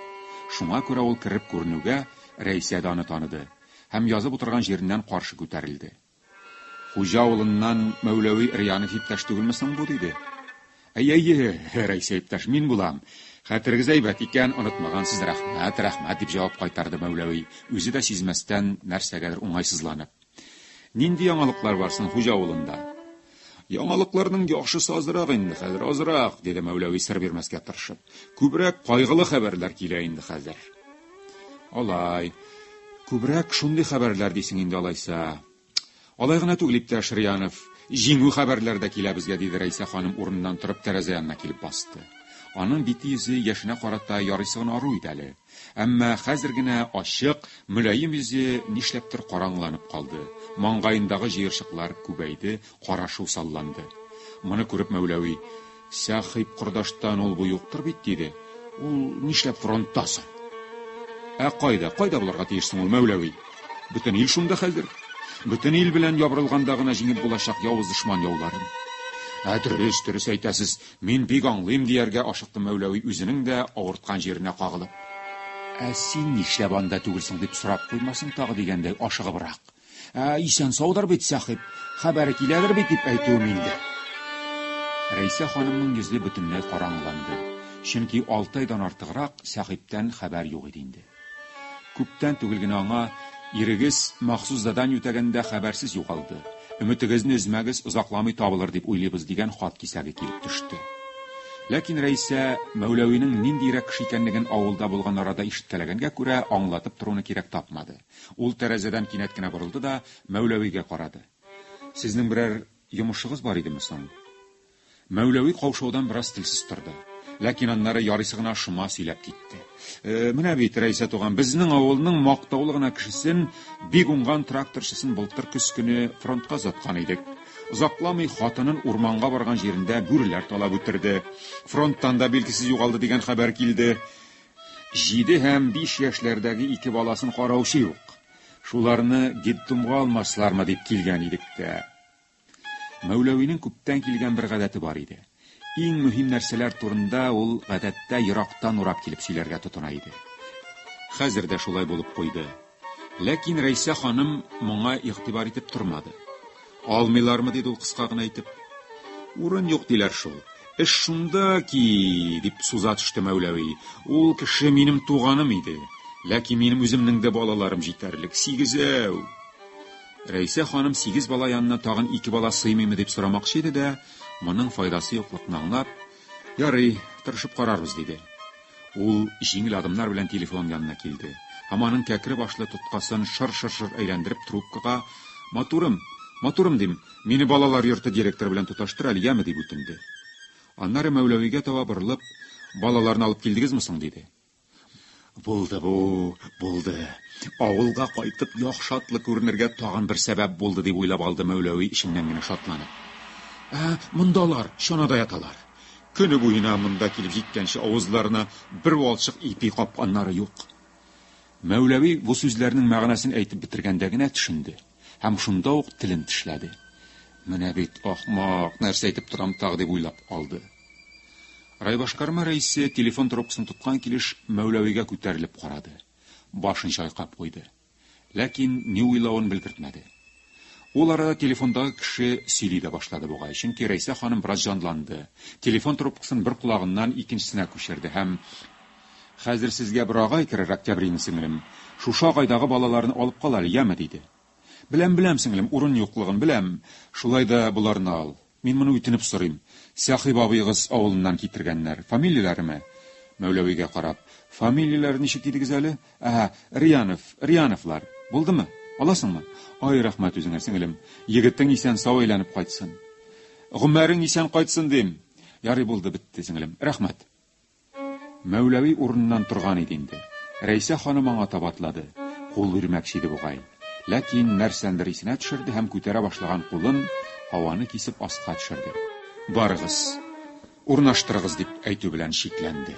Шуңа күрә ул кереп күренүгә, Рәйсә дә аны таныды һәм язып утырган җиреннән каршы күтәрелде. Хуҗа авылыннан Мәүләви Эрьянов иптәш түгелме соң бу? диде. Әйе, әйе, Рәйсә иптәш, мин булам. Хәтерегез әйбәт икән, онытмагансыз, рәхмәт, рәхмәт, дип җавап кайтарды Мәүләви, үзе дә сизмәстән нәрсәгәдер уңайсызланып. Нинди яңалыклар бар соң хуҗа авылында? Яңалыкларның яхшысы азрак инде хәзер, азрак, диде Мәүләви сер бирмәскә тырышып. Күбрәк кайгылы хәбәрләр килә инде хәзер. Алай. Күбрәк шундый хәбәрләр дисең инде алайса. Алай гына түгел, иптәш Риянов. Җиңү хәбәрләр дә килә безгә, диде Рәйсә ханым урыныннан торып тәрәзә янына килеп басты. Аның бите-йөзе яшенә карата ярыйсы гына ару иде әле. Әмма хәзер генә ачык, мөлаем йөзе нишләптер караңгыланып калды, маңгаендагы җыерчыклар күбәйде, карашу салланды. Моны күреп Мәүләви, Сәхип кордаштан ул бу юктыр бит, диде. Ул нишләп фронтта соң? Ә кайда, кайда булырга тиеш соң ул Мәүләви? Бөтен ил шунда хәзер. Бөтен ил белән ябырылганда гына җиңеп булачак явыз дошман яуларын. Ә дөрес, дөрес әйтәсез, Мин бик аңлыйм, дияргә ашыкты Мәүләви үзенең дә авырткан җиренә кагылып. Ә син нишләп анда түгелсең, дип сорап куймасын тагы дигәндәй ашыгыбрак. Ә исән-саудыр бит Сәхип, хәбәре киләдер бит дип әйтүем инде. Рәйсә ханымның йөзе бөтенләй караңгыланды, чөнки алты айдан артыграк Сәхиптән хәбәр юк иде инде. Күптән түгел генә аңа ирегез махсус задание үтәгәндә хәбәрсез югалды. Өметегезне өзмәгез, озакламый табылыр дип уйлыйбыз, дигән хат кисәге килеп төште. Ләкин Рәисә Мәүләвинең ниндиерәк кеше икәнлеген авылда булган арада ишеткәләгәнгә күрә, аңлатып торуны кирәк тапмады. Ул тәрәзәдән кинәт кенә борылды да, Мәүләвигә карады. Сезнең берәр йомышыгыз бар идеме соң? Мәүләви каушаудан бераз телсез торды. Ләкин аннары ярыйсы гына шома сөйләп китте. Э, менә бит, Рәйсә туган, безнең авылның мактаулы гына кешесен, бик уңган тракторчысын былтыр көз көне фронтка озаткан идек. Озакламый хатынын урманга барган җирендә бүреләр талап үтерде. Фронттан да билгесез югалды дигән хәбәр килде. Җиде һәм биш яшьләрдәге ике баласын караучы юк. Шуларны детдомга алмаслармы дип килгән идек тә. Мәүләвинең күптән килгән бер гадәте бар иде. Иң мөһим нәрсәләр турында ул гадәттә ерактан урап килеп сөйләргә тотына иде. Хәзер дә шулай булып куйды. Ләкин Рәйсә ханым моңа игътибар итеп тормады. Алмыйлармы, диде ул кыска гына итеп. Урын юк диләр шул. Эш шунда ки, дип суза төште Мәүләви. Ул кеше минем туганым иде. Ләкин минем үземнең дә балаларым җитәрлек, сигезәү. Рәйсә ханым сигез бала янына тагын ике бала сыймыймы дип сорамакчы иде дә, моның файдасы юклыкны аңлап, Ярый, тырышып карарбыз, диде. Ул җиңел адымнар белән телефон янына килде һәм аның кәкре башлы тоткасын шыр-шыр-шыр әйләндереп трубкага, Матурым, матурым, дим, мине балалар йорты директоры белән тоташтыр әле, яме, дип үтенде. Аннары Мәүләвигә таба борылып, Балаларны алып килдегезме соң? диде. Булды бу, булды. Авылга кайтып, яхшатлы күренергә тагын бер сәбәп булды, дип уйлап алды Мәүләви эченнән генә шатланып. Ә мондалар чанада яталар. Көне буена монда килеп җиткәнче авызларына бер валчык ипи капканнары юк. Мәүләви бу сүзләрнең мәгънәсен әйтеп бетергәндә генә төшенде. Һәм шунда ук телен тешләде. Менә бит ахмак, нәрсә әйтеп торам тагы, дип уйлап алды. Райбашкарма рәисе телефон трубкасын тоткан килеш Мәүләвигә күтәрелеп карады. Башын чайкап куйды. Ләкин ни уйлавын белгертмәде. Ул арада телефондагы кеше сөйли дә башлады бугай, чөнки Рәйсә ханым бераз җанланды. Телефон трубкасын бер колагыннан икенчесенә күчерде һәм Хәзер сезгә бер агай керер, Октябрина сеңлем, шушы агайдагы балаларны алып кал әле, яме, диде. Беләм, беләм, сеңлем, урын юклыгын беләм, шулай да боларны ал. Мин моны үтенеп сорыйм. Сәхиб абыегыз авылыннан китергәннәр. Фамилияләреме? Мәүләвигә карап. Фамилияләре ничек дидегез әле? Әһә, Риянов, Рияновлар. Булдымы? Аласыңмы? Ай, рәхмәт үзеңә, сеңлем. Егетең исән-сау әйләнеп кайтсын. Гомәрең исән кайтсын, дим. Ярый, булды, бетте, сеңлем. Рәхмәт. Мәүләви урыныннан торган иде инде. Рәйсә ханым аңа таба атлады. Кул бирмәкче иде бугай. Ләкин нәрсәндер исенә төшерде һәм күтәрә башлаган кулын һаваны кисеп аска төшерде. Барыгыз, урнаштырыгыз, дип әйтү белән чикләнде.